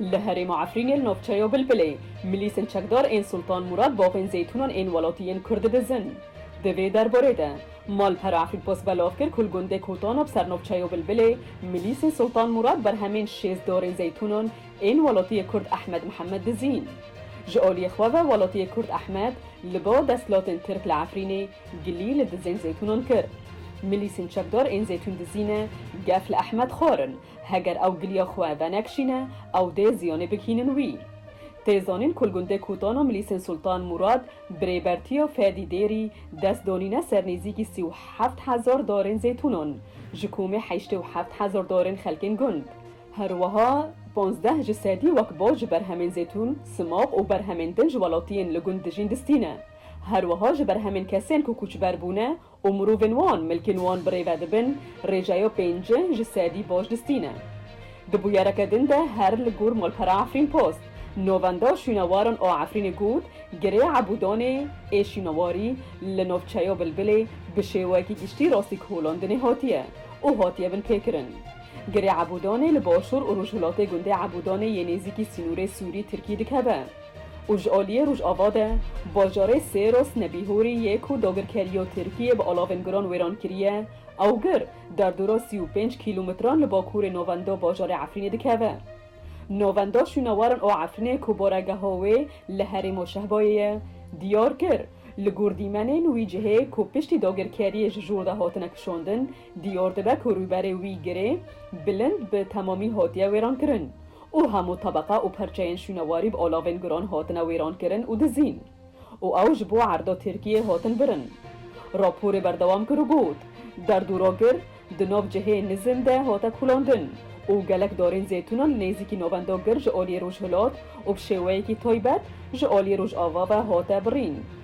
Li herêma Efrînê li navçeya Bilbilê milîsên çekdar ên Sultan Murad bavên zeytûnan ên welatiyên Kurd didizin. Di vê derbarê de malpera Afrikpost belav kir ku li gundê Kotanab ser navçeya Bilbilê milîsên Sultan Murad berhemên şêst darên zeytûnan ên welatiyê Kurd Ehmed Mihemed dizîn. Ji aliyê xwe ve welatiyê Kurd Ehmed li ba desthilatên Tirk li Efrînê Gilî li dizên zeytûnan kir. Milîsên çekdar ên zeytûn dizî ne, gef li Ehmed xwar in. Heger ew giliya xwe venekşîne, ew dê ziyanê bigihînin wî. Tê zanîn ku li gundê Kûtana Milîsên Sultan Mûrad bi rêbertiya Fedî Dêrî dest danîne ser nêzîkî sî û heft hezar darên zeytûnan ji komê heştê û heft hezar darên xelkên gund. Her wiha panzdeh ji sedî wek baş ji berhemên zeytûn, simaq û berhemên din ji welatiyên li gund dijîn distîne. Her wiha ji ber hemên kesên ku koçber bûne û mirovên wan milkên wan bi rê ve dibin, rêjeya pênci ji sedî baş distîne. Di bûyereke din de her li gor malpera Efrîn Post, Novenda Şûnewaran a Efrînê got, Girê Ebûdanê ê şûnewarî li navçeya Bilbilê bi şêweyekî giştî rastîkolandinê hatiye û hatiye binpêkirin. Girê Ebûdanê li başûr û rojhilatê gundê Ebûdanê yê nêzîkî sînorê Sûrî-Tirkî dikeve. û ji aliyê Rojava de bajarê Sêros Nebîhorî yê ku dagirkeriya Tirkiyê bi alavên giran wêran kiriye, ew gir derdora sî û pênc kîlometran li bakurê navenda bajarê Efrînê dikeve. Navenda şûnewaran a Efrînê ku baregeha wê li herêma Şehbayê ye, diyar kir, li gor dîmenên wî cihê ku piştî dagirkeriyê ji jor de hatine kişandin, Dior dibe ku rûberê wî girê bilind bi temamî hatiye wêrankirin û hemû tebeqa û perçeyên şûnewarî bi alavên guran hatine wêrankirin û dizîn û ew ji bo erda Tirkiyê hatin birin. Raporê berdewam kir û got, Derd û ragir di nav cihê nizin de hate kulandin û gelek darên zeytûnan li nêzîkî navenda gir ji aliyê rojhilat û bi şêweyekî taybet ji aliyê rojava ve hate birîn.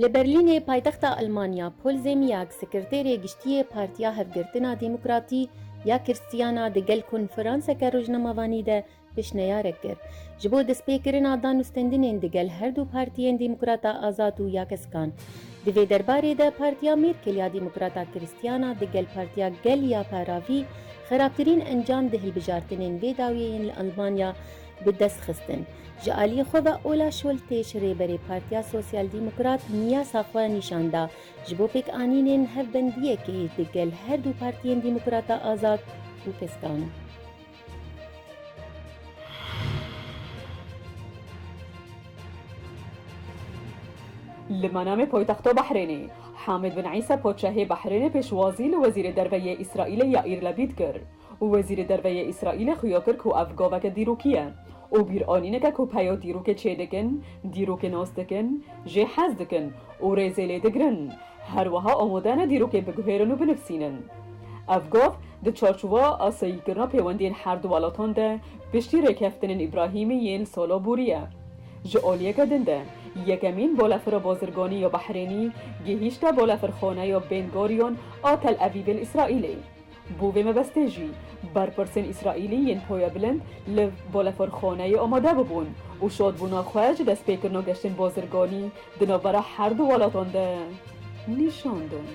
Li Berlînê paytexta Elmanya Paul Zemyak Sekreterê Giştî yê Partiya Hevgirtina Demokratî ya Kirstiyana di gel konferanseke rojnamevanî de pêşneyarek kir ji bo destpêkirina danûstendinên di gel her du partiyên Demokrata Azad û ya Keskan. Di vê derbarê de Partiya Mêrkel ya Demokrata Kiristiyana di gel Partiya Gel ya Paravî xerabtirîn encam di hilbijartinên vê dawiyeyên li Elmanya bi dest xistin. Ji aliyê xwe ve Ola Şoltêş rêberê Partiya Sosyal Demokrat niyasa xwe nîşan da ji bo pêkanînên hevbendiyekê di gel her du partiyên Demokrata Azad û Piskan. Li Manamê poytexta Behrênê, Hamid bin Îsa Padşahê Behrênê pêşwazî li Wezîrê Derve yê Îsraîlê Yaîr Labîd kir. Wezîrê Derve yê Îsraîlê xuya kir ku ev gaveke dîrokî ye û bîranîneke ku peya dîrokê çêdikin, dîrokê nas dikin, jê hez dikin û rêzê lê digirin, her wiha amade ne dîrokê biguhêrin û binivsînin. Ev gav di çarçowa asayîkirina pêwendiyên her du welatan de piştî rêkeftinên Îbrahîmî yên sala borî ye. Ji aliyeke din de yekemîn balefira bazirganî ya Behrênî gihîşte balefirxaneya Bên Goriyon a Tel Evîvê li Îsraîlê. Bo vê mebestê jî berpirsên Îsraîlî yên Hoya Bilind li Boleforxoneyê amade bibûn û şadbûna xwe ji destpêkirina geştên bazirganî di navbera her du welatan de nîşan dan.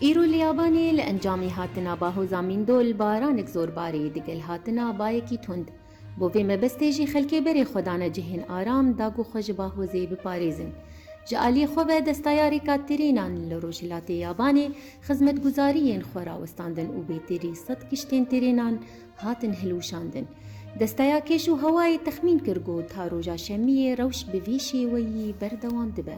Îro li Yabanê li encamî hatina bahoza mîndol baranek zor barî digel hatina bayekî tund. Bo vê mebestê jî xelkê berê xwe dane cihên aram, dag û xwe ji Bahozê biparêzin. Ji aliyê xwe ve destayarê Katerînan li rojhilatê Yabanê xizmetguzariyên xwe rawestandin û bêtêrî sed kiştên terênan hatin hilwişandin. Desteya Kêş û Hewayê texmîn kir ku ta roja şemiyê rewş bi vî şêweyî berdewam dibe.